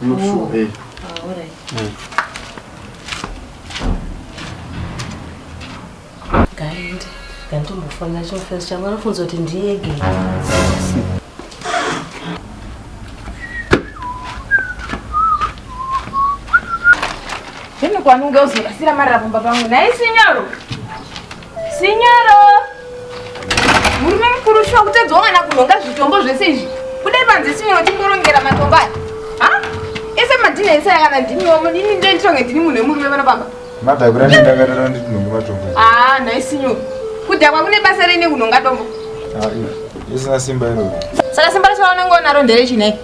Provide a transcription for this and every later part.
I'm not sure. Oh. Eh. Ah, all right. Mm. Guide, ndandimbofona cho first changu anofunza kuti ndiye gate. Hino kwanunga uzorasira marabumba pangu naye sinyoro. Sinyoro. Murume mukuru shuwa kutedzwa mwana kunhonga zvitombo zvese izvi. Kudai panze sinyoro timborongera matombo aya. Ha? Ese madhina ese yakana ndimi wamo ndini ndiye nditonge ndini munhu wemurume vana baba. Mada kura ndakatarana nditi ndinonge matombo. Ah, nhai sinyoro. Kudhakwa kune basa rine kunhonga tombo. Ah, isina simba iro. Saka simba racho raunenge unaro nderechi nei?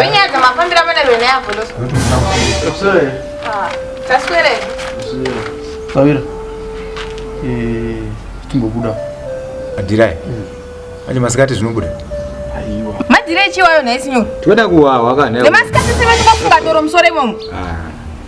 Vinyadzo mafambira mana vene yavo loso. Kusere. Ah, taswere. Kusere. Tawira. Eh, timbobuda. Adirai. Mm. Aje masikati zvinobuda. Aiwa. Madirai chiwayo nhaisinyo. Tinoda kuwawa kana. Nemasikati sema tikafunga doro musore imomo. Ah.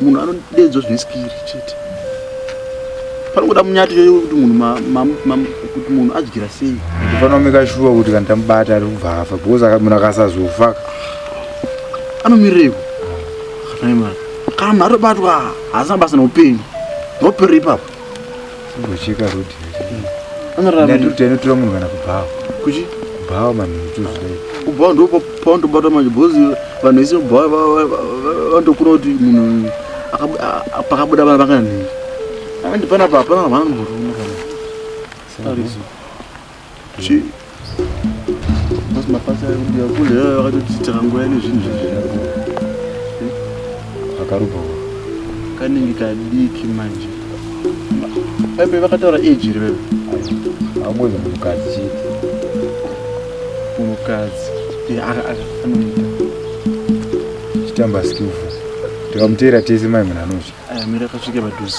munhu anodeedzwa zvine skiri chete panongoda munyati yoyo kuti munhu kuti munhu adyira sei panoomeka shuwa kuti kana tamubata ari kubva afa because munhu akasazofa anomirireko kana munhu atobatwa haasina basa neupenyu ndoperera ipapo Kucheka road. Anorara ndio tena tura munhu kana kubhawa. Kuchi? Kubhawa manhu tuzvidai. Kubhawa ndio paundo bata manje bozi vanhu vese kubhawa vandokura kuti munhu pakabuda vana vakana nini. Andi pana papa vana munhu. Sorry. Chii? Basi mapasa ekudiwa kule iyoyo akatotiitira nguva ine zvinhu zvezvizvo. Akarubha uko. Kanenge kadiki manje. Baibe vakataura age here baibe? Haubonzi munhukadzi chii? Munhukadzi. Eh, aka- aka anoita. Chitamba skillful. Tikamuteera tese mai munhu anozvi. Aya mira akasvika padhuze.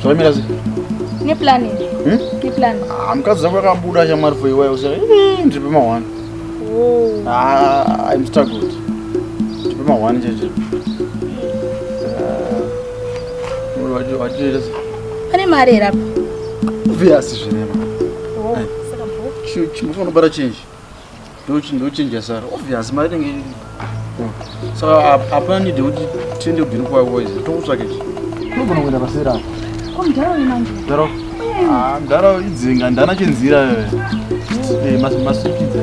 zvakamira neplan hmm? neplan ah, mukadzi zako akabuda shamwari for iwayo usa ndiripe mahwani oh. ah, im struggled ndiripe mahwani cheche watiita ah, pane mari here apa viasi zvinema oh, chimufanobara chinji ndochinja sara obvious mari inenge iripo saka hapana nide kuti tiende kubhini kwako izi tokutsvake chi unogona kuenda pasera mdharo mdharo idzinga ndana chinzira eh, masukidza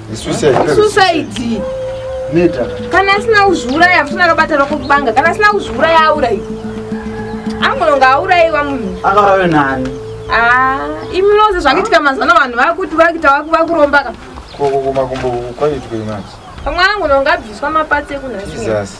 suicide neta kana asina kuzviuraya musina akabata rako kubanga kana asina kuzviuraya aurayi angononga aurayiwa munhu akaurayiwa nani ah, imi noze zvakuitika mazano vanhu vakuti vakuita vakurombaka kokokomakumbo kwaitwei manje pamwe angononga abviswa mapatsi ekunhasi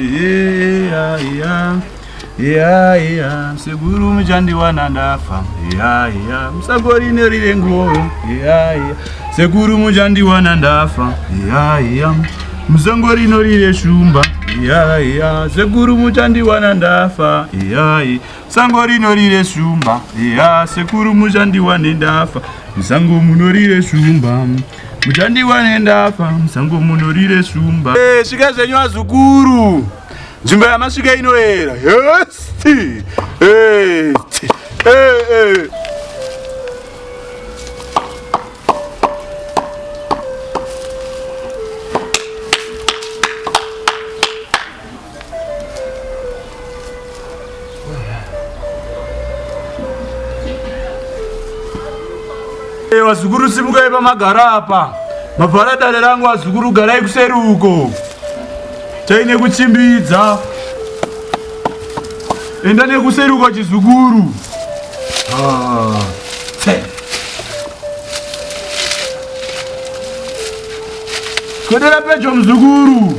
Yeah, yeah. Yeah, yeah. Seguru muchandiwana ndafa yeah, yeah. Musagorine rire ngoro yeah, yeah. Seguru muchandiwana ndafa yeah, yeah. Musangorino rire shumba yeah, yeah. Seguru muchandiwana ndafa yeah, yeah. Sango rino rire shumba yeah. Sekuru muchandiwane ndafa musango munorire shumba Muchandiwa nendafa musango muno rire shumba. Eh, svika zvenyu azukuru. Nzvimbo yamasvika inoera. Yes. Eh. Eh, eh. Wazukuru simukai pamagara apa, mavhara dare rangu. Wazukuru garai kuseri uko, chaine kuchimbidza. Enda nekuseri uko chizukuru. Ah, Kodera pedyo mzukuru.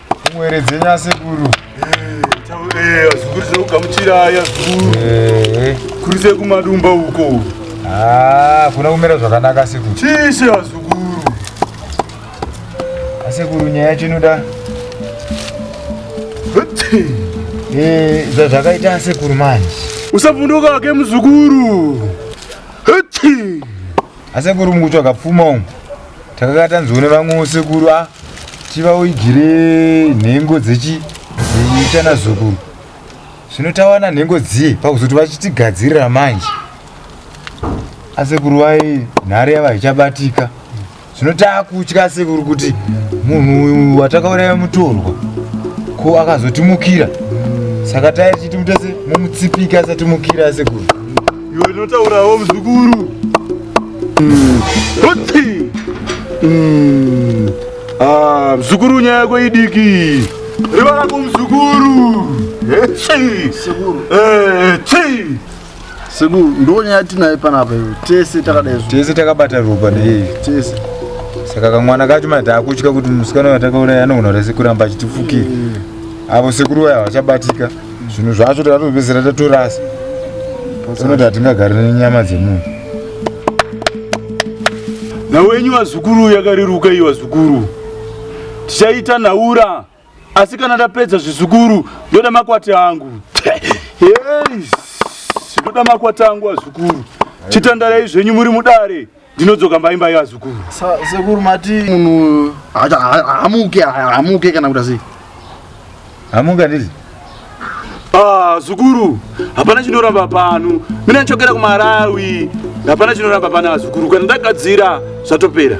Mwere dzenyu asekuru. Eh, azukuru zvekugamuchira aya zukuru. Eh. Kurise kumadumba uko. Ah, kuna kumira zvakanaka sekuru. Chishe azukuru. Asekuru nyaya yacho inoda. Eh, zvazvakaita asekuru manje. Usavhunduka ke muzukuru. Hati. Asekuru mukuti wakapfuma umu takakatanziwo nevamwewo sekuru a tivaoigire nhengo dzechi dzeichana zukuru zvino tawana nhengo dziye pakuzoti vachitigadzirira manje asekuru vai nhare yava ichabatika zvino taakutya asekuru kuti munhu uyu watakauraya mutorwa ko akazotimukira saka taichiti mutese mumutsipika asatimukira asekuru Iwe inotaurawo muzukuru. Kuti. Mm. Ah, muzukuru nyaya yako idiki. Riva rako muzukuru. Echi. Sekuru. Eh, chi. Sekuru, ndonyaya tinaye panapa iwe. Tese takadai zvo. Tese takabata ropa nei. Tese. Saka kamwana kacho mai taakutya kuti musikana watakauraya anogona rese kuramba achitifukira. Avo sekuru vaya havachabatika. zvinhu zvacho takatopedzisira tatorasa unoti hatingagari nenyama dzemunhu nhau yenyu vazukuru yakareruka iyi vazukuru tichaita nhaura asi kana ndapedza zvizukuru ndoda makwati angu ndoda makwati angu vazukuru chitandarai zvenyu muri mudare ndinodzoka mba imba yevazukuru sekuru mati munhu hamuke hamuke kana kuda sei hamuka ndizi ah, zukuru hapana chinoramba pano mina ndichokera kumarawi hapana chinoramba pana vazukuru kana ndagadzira zvatopera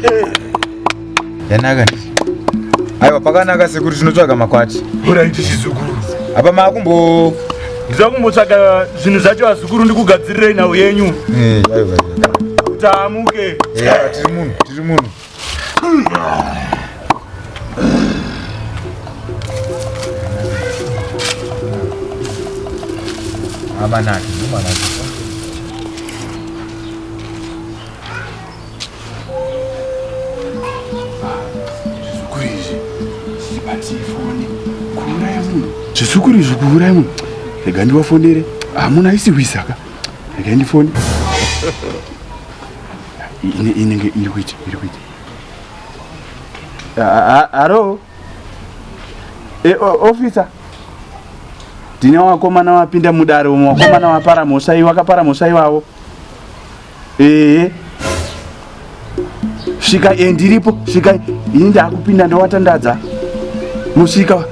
hey. Eh. Yanaka. Aiwa pakanaka sekuru tinotsvaga makwati. Uraiti chizukuru. Apa makumbo ndiza kumbotsvaga zvinhu zvacho azukuru ndikugadzirirei nhau yenyu. Eh, aiwa. Tamuke. Eh, tiri munhu, tiri munhu. Amanaki, amanaki. zvizukuru izvi kuuraya munhu rega ndivafonere hamuna isi hwisaka rega ndifone inenge iri kuita iri kuita haro e, ofisa ndine wakomana wapinda mudare umwe wakomana wapara mhosva iwe wakapara mhosva ivavo Ehe. Svika eh ndiripo, svika ini ndakupinda ndawatandadza. Musvika.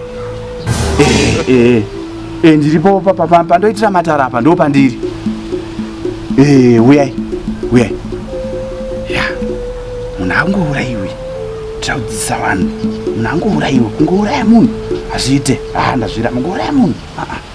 Eh eh. Eh ndiripo papa pa, pandoitira matara apa ndo pandiri. Eh uyai. Uyai. Ya. Munhu angouraiwi. Taudzisa vanhu. Munhu angouraiwi, kungouraya munhu. Hazviite. Ah ndazvira, kungouraya munhu. Ah ah.